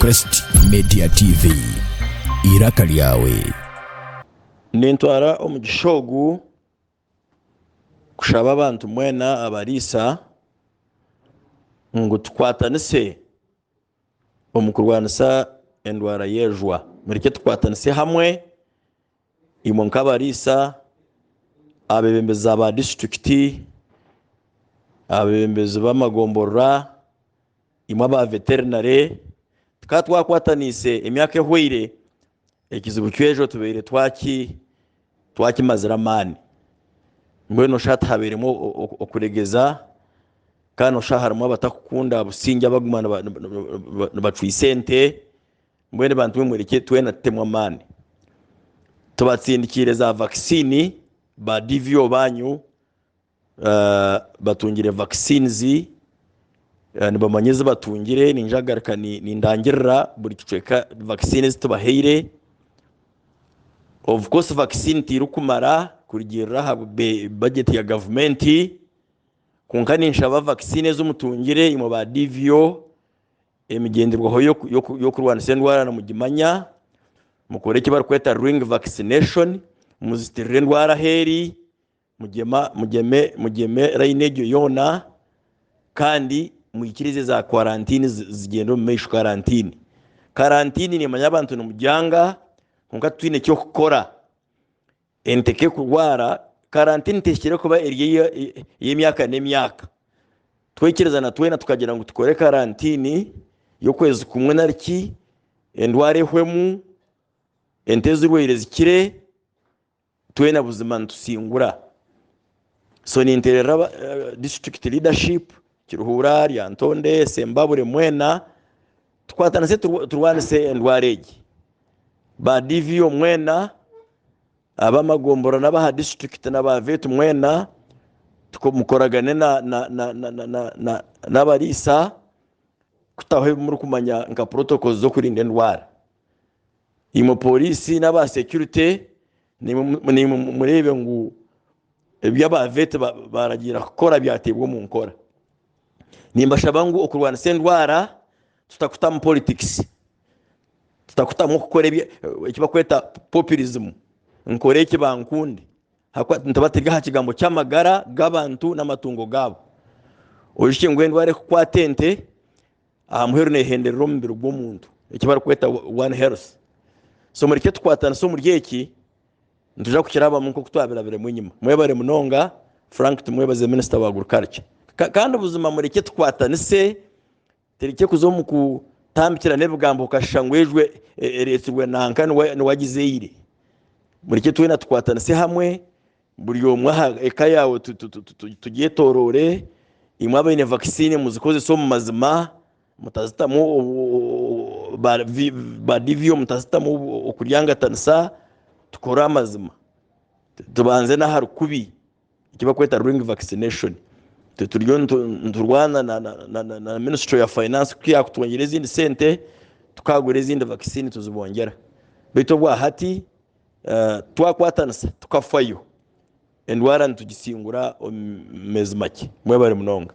Crest Media TV, eiraka lyawe. Nintwara omugisha ogu kushaba abantu mwena abariisa ngu tukwatanise omu kurwanisa endwara y'ejwa. Mureke tukwatanise hamwe Imwe nk'abariisa, abeebembezi ba disiturikiti, abeebembezi b'amagomborora, imwe aba veterinary, tukaba twakwataniise emyaka ehweire, ekizibu ky'ejo tubaire twakimazire amaani. Mbwenu noshusha tihabairemu okuregeza kandi noshusha harimu abatarikukunda busingye abakuguma nibacwitsa ente. Mbwenu bantu bwe murekye twena tutemwe amaani tubatsindikiire za vaccine ba DVO banyu batungire vaccines nibamanya ezi batungire ningira agaruka nindangirira buri kicweka vaccine ezi tubahaire of course vaccine terikumara kurugiirira aha budget ya gavumenti kwonka ninshaba vaccine ezi mutungire imwe ba DVO Emigyenderwaho y'okurwanisa endwara mugimanya, mukora eki barikweta ring vaccination, muzitirira endwara ahu eri, mugyeme rayini egyo yoona kandi mwikirize za kwarantini zigyende omu maisho. Karantini karantini nemanya abantu nimugyanga kwonka titwine eki okukora. Ente ke kurwara, karantini tehikire kuba eri ey'emyaka n'emyaka. Twekirezana twena tukagira ngu tukore karantini y'okwezi kumwe nari ki endwara ehwemu, ente ezirwaire zikire, twena buzima nitusingura. So nintererera disiturikiti leadership Kiruhura, Lyantonde, Sembabure mwena tukwatanise turwanise endwara egi. Ba DVO mwena, ab'amagombora n'abaha disiturikiti na ba vet mwena mukoragane n'abariisa kutaho ebi murikumanya nka protocols z'okurinda endwara. imwe polisi n'aba securite nimwe mureebe ngu ebi aba veti baragira kukora byateebwa omu nkora nimbashaba ngu okurwanisa endwara tutakutamu politics tutakutamu kukora ekibakweta populism nkore eki bankunde ahakuba nituba turi aha kigambo ky'amagara g'abantu n'amatungo gaabo ohishe ngu endwara ekukwata ente aha muheru nehenderera omubiri gw'omuntu eki barikweta one health so mureke tukwatanise omuri eki nituja kukirabamu nk'oku twabirabiremu enyima mwebare munonga frank tumwebaze minisita wa agriculture kandi buzima mureke tukwatanise tureke kuza omu kutambikira n'ebigambo okashisha ngu ejwe e, ereetsirwe nanka niwagizeire mureke twena tukwatanise hamwe Buri omwe aha eka yaawe tugyetoroore, imwe abaine vaccine muzikozese omu mazima mutazitamu ba DVO mutazitamu okuryangatanisa tukore amazima tubanze nahari kubi eki barikweta ring vaccination itwe turiyo niturwana na ministry ya finance ku yakutuhondera ezindi sente tukagura ezindi vaccine tuzibongyera beitu obwa hati twakwatanisa tukafayo endwara nitugitsingura omu meezi makye mwebare munonga.